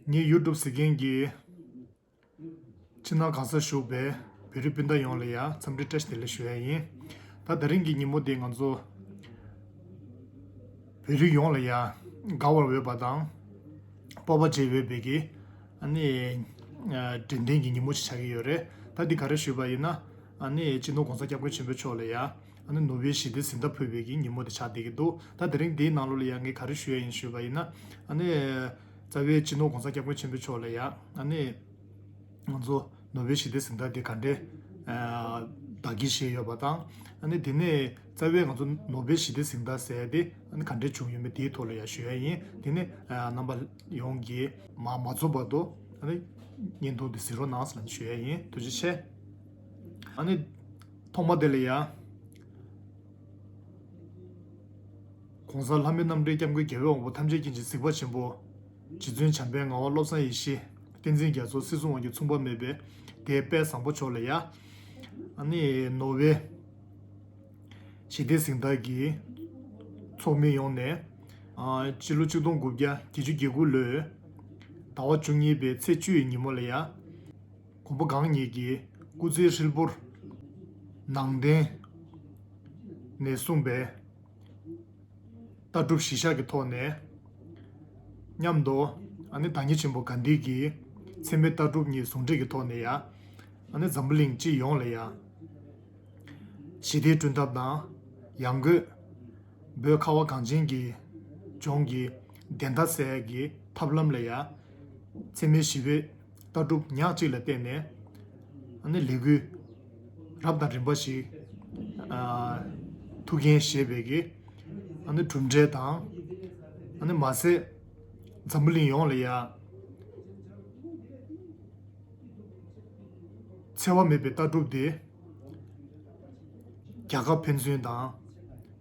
ངས་ཡུལ་གྲུབ་ཟེར་མཁན་གྱི་ཕྱི་ནང་གང་སར་བཞུགས་པའི་བོད་རིགས་སྤུན་ཟླ་ཡོངས་ལ་ཡང་འཚམས་འདྲི་བཀྲ་ཤིས་བདེ་ལེགས་ཞུ་ཡ་ཡིན། ད་ད་རིང་གི་ཉིན་མོ་འདི་ང་ཚོ་བོད་རིགས་ཡོངས་ལ་ཡང་དགའ་བར་འོས་པ་དང་སྤོབས་པ་བྱེད་འོས་པའི་གི་ནི་དྲན་རྟེན་གྱི་ཉིན་མོ་ཞིག་ཆགས་ཀྱི་ཡོད་རེད། ད་འདི་ག་རེ་ཞུས་པ་ཡིན་ན་ནི་སྤྱི་ནོར ྋགོང་ས ྋསྐྱབས་མགོན་ཆེན་པོ་མཆོག་ལ་ཡང། ཨ་ནུ་ནུ་བའི་ཞི་བདེ་ཟིན་ཐབས་ཕུད་པའི་གི་ཉིན་མོ་དེ་ཆགས་བསྡད་ཀྱི་འདུག་ད་དེ་རིང་འདིའི་ནང་ལོ་ལ་ཡང་ངས་ག་རེ་ཞུ་ཡ་ཡིན་ཞུས་པ་ཡིན་ན། ཨ་ནི། རྩ་བའི་སྤྱི་ནོར་གོང་ས་སྐྱབས་མགོན་ཆེན་པོའི་མཆོག་ལ་ཡང་ཨ་ནི། ང་ཚོ་ནུ་བའི་ཞི་བདེ་ཟིན་ཐབས་དེ་ག་འདྲའི། བདག་གིར་བཞེས་ཡོད་པ་དང། ཨ་ནི་དེ་ནས་རྩ་བའི་ང་ཚོ་ནུ་བའི་ཞི་བདེ་ཟིན་ཐབས་ཟེར་དེ་ཨ་ནི་ག་འདྲའི་བྱུང་ཡོད་མེད་དེའི་ཐོག་ལ་ཡང་ཞུ་ཡ་ཡིན་དེ་ནི། རྣམ་པ་ཡོངས་ཀྱིས། མ་རྩོམ་པ་དུ། ཨ་ནི། བརྙན་ཐུང་དེ་གཟིགས་རོགས་གནང་ཟེར་ན་ཞུ་ཡ་ཡིན་ཐུགས་རྗེ་ཆེ། ཨ་ནི། ཐོག་མ་དེ་ལ་ཡང། གོང་ས་ལྷ་མི་རྣམ་འདྲེན་སྐྱབས་མགོན་རྒྱལ་བས་འོང་བ་ཐམས་ཅད་མཁྱེན་ཅིང་གཟིགས་པ་ཆེན་པོ། རྗེ་བཙུན་བྱམས་པའི་ངག་དབང་བློ་བཟང་ཡེ་ཤེས་བསྟན་འཛིན་རྒྱ་མཚོ་སྲིད་གསུམ་དབང་གི་མཚུངས་པ་མེད་པའི་དད་དཔལ་བཟང་པོ་མཆོག་ལ་ཡང། ཨ་ནི། ནོར་བྷེལ། ཞི་བདེའི་གཟེངས་རྟགས་ཀྱི། ཚོགས་མི་ཡོངས་ནས། སྤྱི་ལོ་ཆིག་སྟོང་དགུ་བརྒྱ་བརྒྱད་ཅུ་གྱ་དགུ་ལོའི། ཟླ་བ་བཅུ་གཉིས་པའི་ཚེས་བཅུ་ཡི་ཉིན་མོ་ལ་ཡང། གོང་པོ་གང་ཉིད་ཀྱིས་སྐུ་ཚེའི་ཧྲིལ་པོར། ནང་བསྟན་ནས་གསུངས་པའི། ལྟ་གྲུབ་གཞི་བཞག་གི་ཐོག་ནས། མཉམ་དུ། བདག་ཉིད་ཆེན་པོ་དགའ་འདིས་ཀྱིས། ཚད་མའི་ལྟ་གྲུབ་གཉིས་ཟུང་འབྲེལ་གྱི་ཐོག་ནས་ཡང། འཛམ་བུ་གླིང་སྤྱི་ཡོངས་ལ་ཡང། ཞི་བདེའི་སྐྲུན་ཐབས་དང་ཡང་སྒོས། བོད་ཁ་བ་གངས་ཅན་གྱི་ལྗོངས་ཀྱི། བདེན་མཐའ་གསལ་གྱི་ཐབས་ལམ་ལ་ཡང། ཚད་མའི་ཞི་བའི། ལྟ་གྲུབ་ཉག་གཅིག་ལ་བརྟེན་ནས་ནི་ལས་འགུལ་རབ་དང་རིམ་པ་ཞིག་ཐུགས་འགན་བཞེས་པའི་གྲུབ་འབྲས་དང། མ་ཟད་འཛམ་བུ་གླིང་ཡོངས་ལ་ཡང་འཚེ་བ་མེད་པའི་ལྟ་གྲུབ་དེ་རྒྱ་ཁབ་ཕན་ཚུན་དང།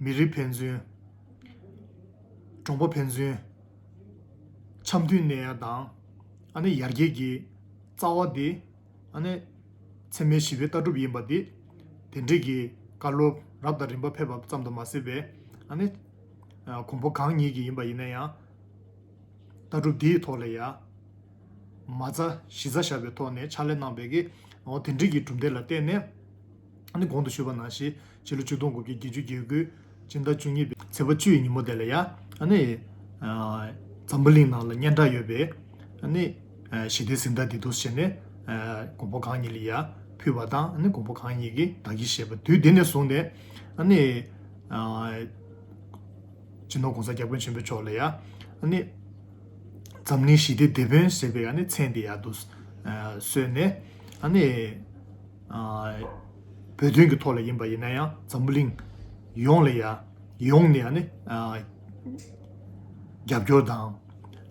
མི་རིགས་ཕན་ཚུན། གྲོང་པ་ཕན་ཚུན། འཆམ་མཐུན་གནས་ཡ་དང། ཨ་ནི་ཡར་རྒྱས་ཀྱི་རྩ་བ་འདི། ཨ་ནི་ཚད་མའི་བཞི་པའི་ལྟ་གྲུབ་ཡིན་པ་འདི། དེ་འབྲེལ་གྱི་བཀའ་སློབ་རབ་དང་རིམ་པ་ཕེབས་པ་ཙམ་དུ་མ་ཟད་པས། ཨ་ནི། གོང་འཕོ་གང་ཉིད་ཀྱི་ཡིན་པ་ཡིན་ན་ཡང། ལྟ་གྲུབ་འདི་ཡི་ཐོག་ལ་ཡ། མ་རྩ་བཞི་རྩ་བཞག་པའི་ཐོག་ནས་ཕྱག་ལས་གནང་བས། དེ་འབྲེལ་གྱི་གྲུབ་འབྲས་ལ་བརྟེན་ནས། ཨ་ནི་གོང་དུ་ཞུས་པ་ན་ཞེས་བྱའི་ལོ་ཆིག་སྟོང་དགུ་བརྒྱ་བརྒྱད་ཅུ་བརྒྱད་དགུའི་སྤྱི་ཟླ་བཅུ་གཉིས་པའི་ཚེས་པ་བཅུའི་ཉིན་མོ་དེ་ལ་ཡང་ཨ་ནི་འཛམ་བུ་གླིང་ནང་ལ་སྙན་གྲགས་ཡོད་པའི་ཨ་ནི་ཞི་བདེའི་གཟི་མདངས་དེ་དུ་བྱས་ནས་གོང་བུ་གང་ཉིད་ལ་ཡར་ཕུལ་བ་དང་ཨ་ནི་གོང་བུ་གང་ཉིད་ཀྱི་བདག་གིས་བཞེས་པ་དུས་དེ་ནས་བཟུང་ནས་ཨ་ནི་སྤྱི་ནོར་གོང་ས་སྐྱབས་མགོན་ཆེན་པོ་མཆོག་ལ་ཡང་ཨ་ནི་འཛམ་གླིང་ཞི་བདེའི་དེད་དཔོན་ཟེར་བའི་མཚན་དེ་ཡང་དུ་གསོལ་ནས་ཨ་ནི། བོད་དོན་གྱི་ཐོག་ལ་ཡིན་པ་ཡིན་ན་ཡང་འཛམ་བུ་གླིང་ཡོངས་ལ་ཡང་ཡོངས་ནས་ཡང་ནི་རྒྱབ་སྐྱོར་དང་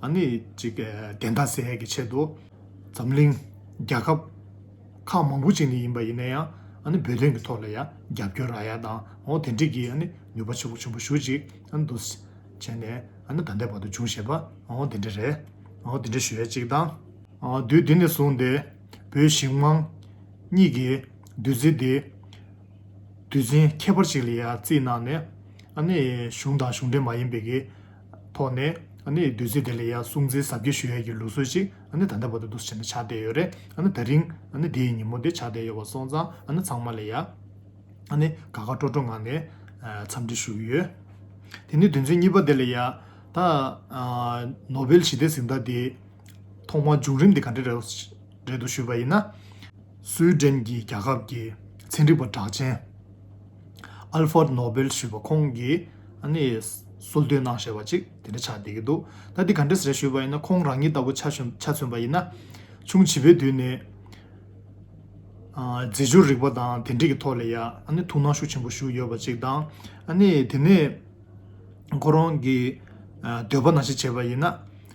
ཡང་ནི་ཅིག་བདེན་མཐའ་གསལ་གྱི་ཆེད་དུ་འཛམ་གླིང་རྒྱལ་ཁབ་ཁག་མང་པོ་ཅིག་ནས་ཡིན་པ་ཡིན་ན་ཡང་ཡང་ནི་བོད་དོན་གྱི་ཐོག་ལ་ཡང་རྒྱབ་སྐྱོར་ར་ཡ་དང་འོ་དེ་འགྲིག་གི་ཡང་ནི་ནུས་པ་ཆེན་པོ་ཆེན་པོ་ཞུ་ཅིག་ཡང་འདུག་བྱས་ནས་ཡང་ནི་ད་ལྟའི་བར་དུ་བྱུང་ཞེས་པ་འོ་དེ་འདྲ་རེད་འོ་དེ་འདྲ་ཞུ་ཡ་ཅིག་དང། དུས་འདི་ནས་བཟུང་སྟེ། བོད་ཞིག་དམངས། གཉིས་ཀྱི་བདུད་རྩི་འདི། དུས་ཆེན་ཁྱད་པར་ཞིག་ལ་ཡང་བརྩིས་གནང་ནས། གཞུང་དང་གཞུང་འབྲེལ་མ་ཡིན་པའི་ཀྱི་ཐོག་ནས། བདུད་རྩི་དེ་ལ་ཡང་སྲུང་བརྩི་ཟབ་རྒྱས་ཞུ་ཡ་ཀྱི་ལུགས་སྲོལ་ཞིག་ད་ལྟ་བར་དུ་འདུ་ཤེས་ནས་ཆགས་བསྡད་ཡོད་རེད། ད་རིང་དེའི་ཉིན་མོ་དེ་ཆགས་བསྡད་ཡོད་པ་སོང་ཙང་ཚང་མ་ལ་ཡང། དགའ་དགའ་སྤྲོ་སྤྲོ་ངང་ནས་འཚམས་འདྲི་ཞུ་གི་ཡོད། དེ་ནས་དུས་ཚོད་གཉིས་པ་དེ་ལ་ཡང། ད། ནོ་བེལ་ཞི་བདེ་གཟེངས་རྟགས་དེ། ཐོག་མར་བྱུང་རིམ་དེ་ག་འདྲ་རེད་འདུག་ཞུས་པ་ཡིན་ན། སུའི་ཏྲེན་གྱི་རྒྱལ་ཁབ་ཀྱི་ཚན་རིག་པ་གྲགས་ཅན། Alford Nobel ཞུས་པ་ཁོང་གིས་གསོལ་སྟོན་གནང་བཞེད་པ་ཅིག་དེ་འདྲ་ཆགས་བསྡད་ཀྱི་འདུག་ད་དེ་ག་འདྲ་རེད་ཞུས་པ་ཡིན་ན་ཁོང་རང་ཉིད་ལྟ་བུ་ཆ་མཚོན་པ་ཡིན་ན། ཆུང་བྱིས་པའི་དུས་ནས། རྫས་སྦྱོར་རིག་པ་དང་དེ་འབྲེལ་གྱི་ཐོག་ལ་ཡང་ཐུགས་སྣང་ཤུགས་ཆེན་པོ་ཞུགས་ཡོད་པ་ཅིག་དང། དེ་ནས་ཁོ་རང་གིས་འདོད་པ་ན་ཞིག་བྱས་པ་ཡིན་ན།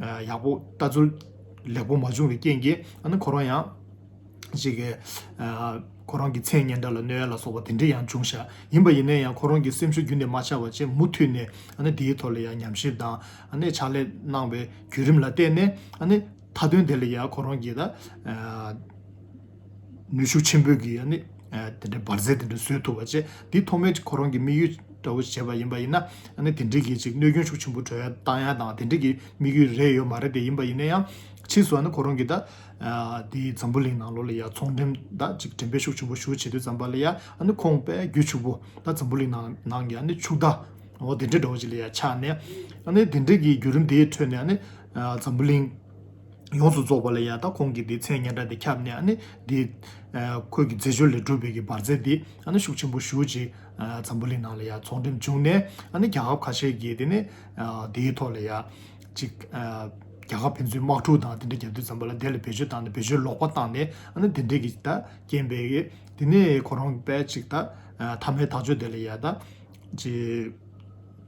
ཡག་པོ་ལྟ་ཚུལ་ལེགས་པོ་མ་བྱུང་བའི་རྐྱེན་གྱིས་ཨ་ནི་ཁོ་རང་ཡང། གཅིག་གིས། ཁོ་རང་གི་མཚན་སྙན་སྒྲ་ལ་གནོད་ཡ་ལ་སོགས་པ་དེ་འདྲ་ཡང་འབྱུང་བཞག་ཡིན་པ་ཡིན་ན་ཡང་ཁོ་རང་གི་སེམས་ཤུགས་རྒྱུན་ནས་མ་ཆག་པ་བཅས་མུ་མཐུད་ནས་ཨ་ནི་དེའི་ཐོག་ལ་ཡང་ཉམས་ཞིབ་དང་ཨ་ནི་ཕྱག་ལས་གནང་བའི་བརྒྱུད་རིམ་ལ་བརྟེན་ནས་ཨ་ནི་མཐའ་དོན་དེ་ལ་ཡང་ཁོ་རང་གིས། ནུས་ཤུགས་ཆེན་པོས་ཀྱིས་ནི་དེ་འདྲའི་འབར་རྫས་དེ་འདྲ་བཟོས་ཐུབ་པ་བཅས་འདི་ཐོག་མའི་ཁོ་རང་གི་དམིགས་ཡུལ་འདྲ་བོ་བྱས་པ་ཡིན་པ་ཡིན་ན་ནི་དེ་འདྲའི་གྱི་ཅིག་གནོད་སྐྱོན་ཤུགས་ཆེན་པོ་བྲོས་བཏང་ཡ་དང་དེ་འདྲའི་གྱི་དམིགས་ཡུལ་རེད་ཡོད་མ་རེད་དེ་ཡིན་པ་ཡིན་ན་ཡང་ཕྱིས་སུ་ནི་ཁོ་རང་གི་ད་འདི་འཛམ་བུ་གླིང་ནང་ལོགས་ལ་ཡ་ཚོང་འགྲེམས་ད་ཅིག་འགྲེམས་སྤེལ་ཤུགས་ཆེན་པོ་ཞུ་བྱེད་དུས་ཙམ་པ་ལ་ཡ་ནི་ཁོང་པས་རྒྱུ་ཕྱུག་པོ་ད་འཛམ་བུ་གླིང་ནང་གི་ནི་ཕྱུག་ད་འོ་དེ་འདྲའི་འདྲ་བོ་ཅིག་ལ་ཡ་ཆགས་ནས་ནི་དེ་འདྲའི་གྱི་རྒྱུ་རིམ་དེའི་ཁྲོད་ནས་ནི་འཛམ་བུ་གླིང། ཡོངས་སུ་རྫོགས་པ་ལ་ཡང་དག་ཁོང་གིས་དེའི་མཚན་སྙན་གྲགས་དེ་ཁྱབ་ནས་དེ་ཁོད་ཀྱི་མཛད་སྤྱོད་ལས་གྲུབ་པའི་གྱི་བར་མཛད་དེ་ཤུགས་ཆེན་པོ་ཞུ་ཅིག་འཛམ་བུ་གླིང་ནང་ལ་ཡང་ཚོང་འགྲེམས་བྱུང་ནས་རྒྱལ་ཁབ་ཁ་ཤས་ཀྱིས་དེ་ནས་དེའི་ཐོག་ལ་ཡང་ཅིག་རྒྱལ་ཁབ་ཕན་ཚུན་དམག་འཁྲུག་དང་དེ་འདྲ་རྒྱབ་དུས་ཙམ་པོ་ལ་དེ་ལ་བེད་སྤྱོད་བཏང་ནས་བེད་སྤྱོད་ལོག་པ་བཏང་ནས་དེ་འདྲས་ཀྱི་ད་རྐྱེན་པས་གི་དེ་ནས་ཁོ་རང་གི་པས་ཅིག་ད་ཐ་མའི་ཐག་གཅོད་དེ་ལ་ཡང་ད་ཅིག་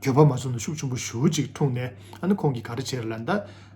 གྱོད་པ་མ་བྱུང་ན་ཤུགས་ཆེན་པོ་ཞུ་ཅིག་འཁྲུངས་ནས་ཁོང་གིས་ག་རེ་བྱས་ར་ལ་ད།